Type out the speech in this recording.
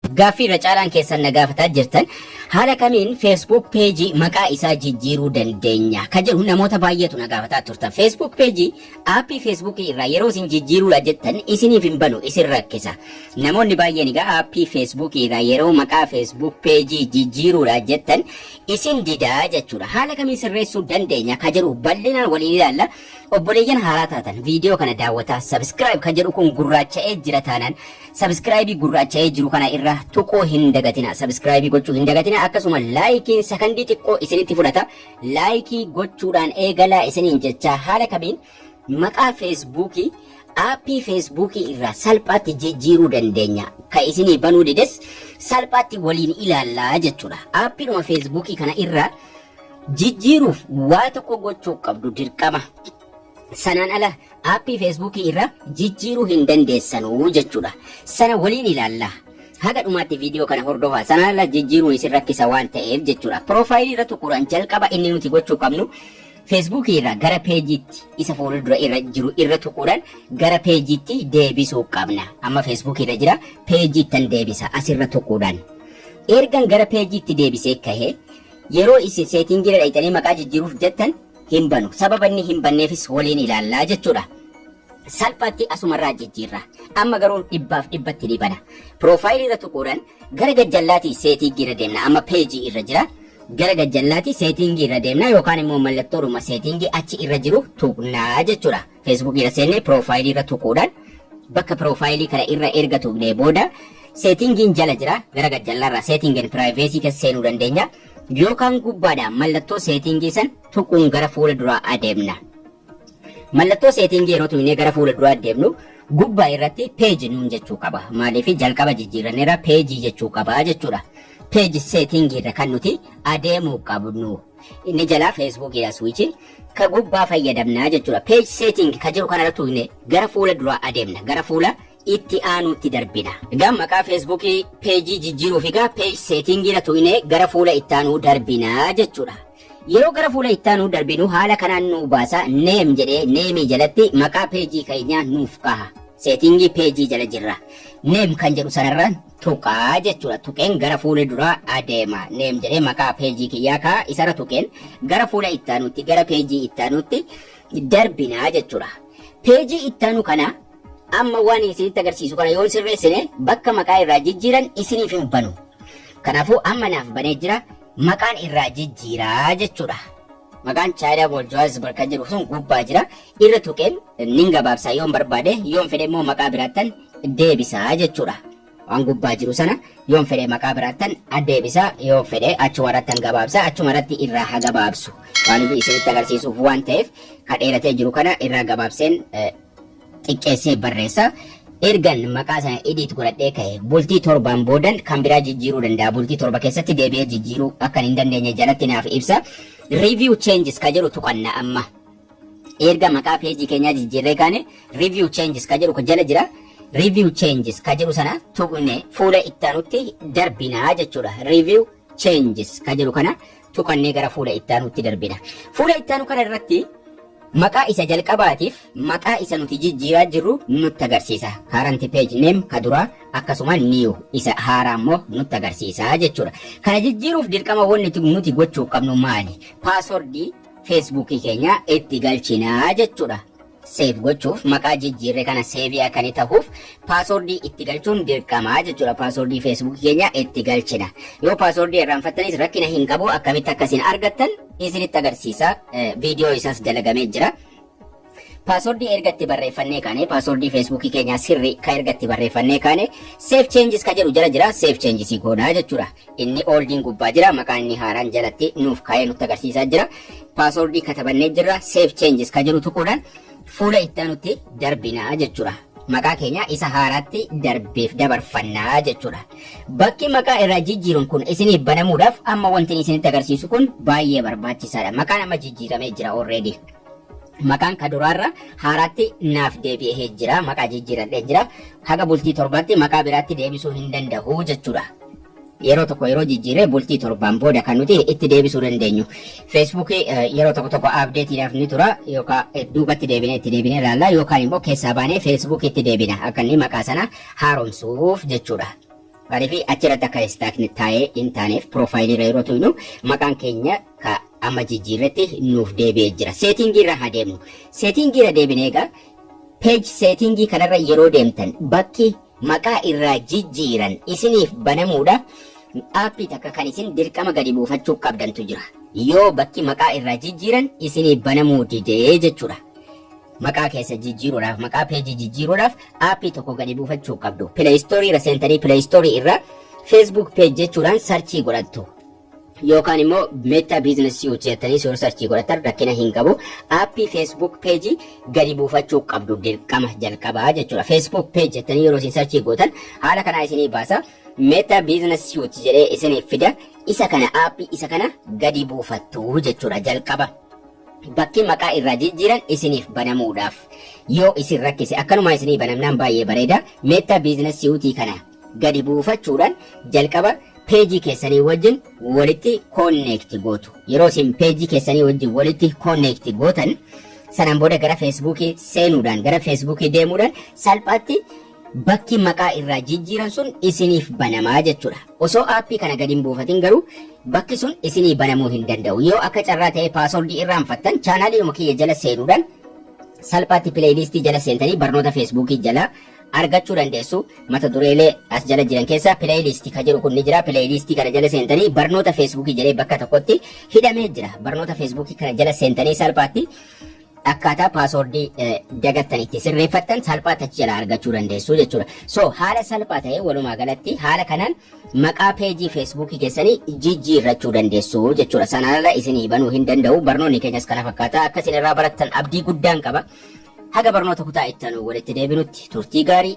Gaaffii irra caalaan keessan na gaafataa jirtan haala kamiin Facebook page maqaa isaa jijjiiruu dandeenya ka jedhu namoota baay'eetu na gaafataa turtan. Facebook page aappii Facebook irraa yeroo isin jijjiiruudha jettan isiniif hin banu isin rakkisa. Namoonni baay'een egaa aappii Facebook irraa yeroo maqaa Facebook page jijjiiruudha jettan isin didaa jechuudha. Haala kamiin sirreessuu dandeenya ka jedhu bal'inaan waliin ilaalla. Obboleeyyan haaraa taatan viidiyoo kana daawwataa subscribe ka jedhu kun gurraacha'ee jira taanaan Subscribe gurraacha'ee jiru kana irra tuquu hin dagatina. Subscribe gochuu hin dagatina. Akkasuma laayikiin sakandii xiqqoo isinitti fudhata. Laayikii gochuudhaan eegalaa isiniin jecha haala kamiin maqaa feesbuukii aappii feesbuukii irraa salphaatti jijjiiruu dandeenya. Ka isinii banuu dides salphaatti waliin ilaallaa jechuudha. Aappiidhuma feesbuukii kana irraa jijjiiruuf waa tokko gochuu qabdu dirqama. Sanaan ala aappii feesbuukii irra jijjiiruu hin dandeessanu jechuudha. Sana waliin ilaalla. Haga dhumaatti viidiyoo kana hordofaa sanaan ala jijjiiruun isin rakkisa waan ta'eef jechuudha. Piroofaayilii irra tuquudhaan jalqaba inni nuti gochuu qabnu feesbuukii irraa gara peejiitti isa fuuldura irra jiru irra tuquudhaan gara peejiitti deebisuu qabna. Amma feesbuukii irra jira peejiittan deebisa asirra tuquudhaan. Ergan gara peejiitti deebisee kahe yeroo isin seetingiirra dhaqxanii maqaa jijjiiruuf jettan hin banu. Sababa inni hin banneefis waliin ilaalla jechuudha. Salphaatti asumarraa jijjiirra. Amma garuu dhibbaaf dhibbatti ni bana. Piroofaayilii irra tuquudhaan gara gajjallaatii seetiingii irra deemna. Amma peejii irra jira. Gara gajjallaatii seetiingii irra deemna yookaan immoo mallattoodhuma seetiingii achi irra jiru tuqnaa jechuudha. Facebook irra seennee profile irra tuquudhaan bakka profile kana irra erga tuqnee booda settingiin jala jira gara gad jallarraa setting and privacy keessa seenuu dandeenya yookaan gubbaadhaan mallattoo settingii san tuquun gara fuula duraa adeemna. Mallattoo settingii yeroo tuqnee gara fuula duraa adeemnu gubbaa irratti page nuun jechuu qaba. Maaliif jalqaba jijjiirranneerra page jechuu qaba jechuudha. Page setting irra kan nuti adeemuu qabnu. inni jalaa Facebook dha switch ka gubbaa fayyadamna jechuudha page setting ka jiru kana irratti tuqne gara fuula duraa adeemna gara fuula itti aanuutti darbina egaa maqaa Facebook page jijjiiruuf egaa page setting irra tuqne gara fuula itti aanuu darbina jechuudha yeroo gara fuula itti aanuu darbinu haala kanaan nuu baasa name jedhee name jalatti maqaa page keenyaa nuuf kaha setting page jala jirra name kan jedhu sanarra tuqa jechuudha tuqeen gara fuula duraa adeema neem jedhee maqaa peejii kiyyaa kaa isarra tuqeen gara fuula ittaanuutti gara peejii ittaanuutti darbinaa jechuudha peejii ittaanu kana amma waan isinitti agarsiisu kana yoon sirreessine bakka maqaa irraa jijjiiran isiniif hin banu kanaafuu amma naaf banee jira maqaan irraa jijjiiraa jechuudha maqaan chaayinaa booljuwaas barka jedhu sun gubbaa jira irra tuqeen nin gabaabsa yoon barbaade yoon fedhe immoo maqaa biraattan deebisa jechuudha. Waan gubbaa jiru sana yoon fedhe maqaa biraattan addeebisa yoon fedhe achuma irrattan gabaabsa achuma irratti irraa ha gabaabsu maaliif isinitti agarsiisuuf waan ta'eef ka dheeratee jiru kana irraa gabaabseen eh, xiqqeessee barreessa. Ergan maqaa sana edit godhadhee ka'e bultii torbaan boodan kan biraa jijjiiruu danda'a. Bultii torba keessatti deebi'ee jijjiiruu akkan hin dandeenye jalatti naaf ibsa. Review changes ka jedhu tuqanna amma. Erga maqaa peejii keenyaa jijjiirree kaane review changes ka jedhu jala jira. Review changes ka jedhu sana tuqne fuula itti aanutti darbinaa jechuudha. Review changes ka jedhu kana tuqannee gara fuula itti aanutti darbina. Fuula itti aanu kana irratti maqaa isa jalqabaatiif maqaa isa nuti jijjiiraa jirru nutti agarsiisa. Current page name ka duraa akkasuma new isa haaraa immoo nutti agarsiisa jechuudha. Kana jijjiiruuf dirqama wanti nuti gochuu qabnu maali? Paaswordii Facebook keenya itti galchina jechuudha. Save gochuuf maqaa jijjiirre kana save akka inni tahuuf password itti galchuun dirqama jechuudha. Password Facebook keenya itti galchina. Yoo password irraanfattanis rakkina hin qabu akkamitti akka isin argattan isinitti agarsiisa. Viidiyoo isaas dalagamee jira. Password erga itti barreeffannee kaane password Facebook keenyaa sirri ka erga itti barreeffannee kaane save changes ka jedhu jala jira save changes goonaa jechuudha. Inni oldiin gubbaa jira maqaan inni haaraan jalatti nuuf kaa'ee nutti agarsiisaa jira. Password katabannee jirra save changes ka jedhu tuquudhaan fuula itti aanutti darbinaa jechuudha. Maqaa keenya isa haaraatti darbeef dabarfannaa jechuudha. Bakki maqaa irraa jijjiiruun kun isiniif banamuudhaaf amma wanti isinitti agarsiisu kun baay'ee barbaachisaadha. Maqaan amma jijjiiramee jira already. Maqaan ka duraarra haaraatti naaf deebi'ee jira. Maqaa jijjiiradhee jira. Haga bultii torbaatti maqaa biraatti deebisuu hin danda'u jechuudha. Yeroo tokko yeroo jijjiirree bultii torbaan booda kan nuti itti deebisuu dandeenyu. Feesbuukii yeroo tokko tokko abdeetiidhaaf ni tura yookaan duubatti deebinee itti deebinee ilaalla yookaan immoo keessaa baanee feesbuukiitti deebina akka inni maqaa sana haaromsuuf jechuudha. Maaliif achi irratti akka istaakni taa'ee hin taaneef piroofaayilii irra yeroo tuynu maqaan keenya ka amma jijjiirretti nuuf deebi'ee jira. Seetiingii irra haa deemnu. Seetiingii irra deebine egaa peeji seetiingii kanarra yeroo deemtan bakki maqaa irraa jijjiiran isiniif banamuudha. Aappii takka kan isin dirqama gadi buufachuu qabdantu jira. Yoo bakki maqaa irraa jijjiiran isiniif banamuu didee jechuudha. Maqaa keessan jijjiiruudhaaf, maqaa peejii jijjiiruudhaaf aappii tokko gadi buufachuu qabdu. Play Store irra seentanii Play Store irra Facebook page jechuudhaan sarchii godhattu. Yookaan immoo Meta Business Suite jettanii yoo sarchii godhatan rakkina hin qabu. Aappii Facebook page gadi buufachuu qabdu dirqama jalqabaa jechuudha. Facebook page jettanii yeroo isin sarchii gootan haala kanaa isinii baasa. Meta Business Suite jedhee isiniif fida. Isa kana aappii isa kana gadi buufattu jechuudha jalqaba. Bakki maqaa irraa jijjiiran isiniif banamuudhaaf yoo isin rakkise akkanumaan isinii banamnaan baay'ee bareeda. Meta Business Suite kana gadi buufachuudhaan jalqaba peejii keessanii wajjin walitti connect gootu. Yeroo isin peejii keessanii wajjin walitti connect gootan sanaan booda gara Facebook seenuudhaan gara Facebook deemuudhaan salphaatti bakki maqaa irraa jijjiiran sun isiniif banamaa jechuudha. Osoo aappii kana gad hin buufatin garuu bakki sun isinii banamuu hin danda'u. Yoo akka carraa ta'ee paaswordii irraanfattan chaanaaliidhuma kiyya jala seenuudhaan salphaatti pileeyiliistii jala seentanii barnoota feesbuukii jala argachuu dandeessu. Mata dureelee as jala jiran keessaa pileeyiliistii ka jedhu kun ni jira. Pileeyiliistii kana jala seentanii barnoota feesbuukii jedhee bakka tokkotti hidhamee jira. Barnoota feesbuukii kana jala seentanii salphaatti akkaataa paasoordii dagattan itti sirreeffattan salphaa tachi jalaa argachuu dandeessu jechuudha. So haala salphaa ta'een walumaa galatti haala kanaan maqaa peejii feesbuukii keessanii jijjiirrachuu dandeessu jechuudha. Sanarra isinii banuu hin danda'u barnoonni keenyas kana fakkaata akka isin irraa barattan abdii guddaan qaba. Haga barnoota kutaa itti aanu walitti deebinutti turtii gaarii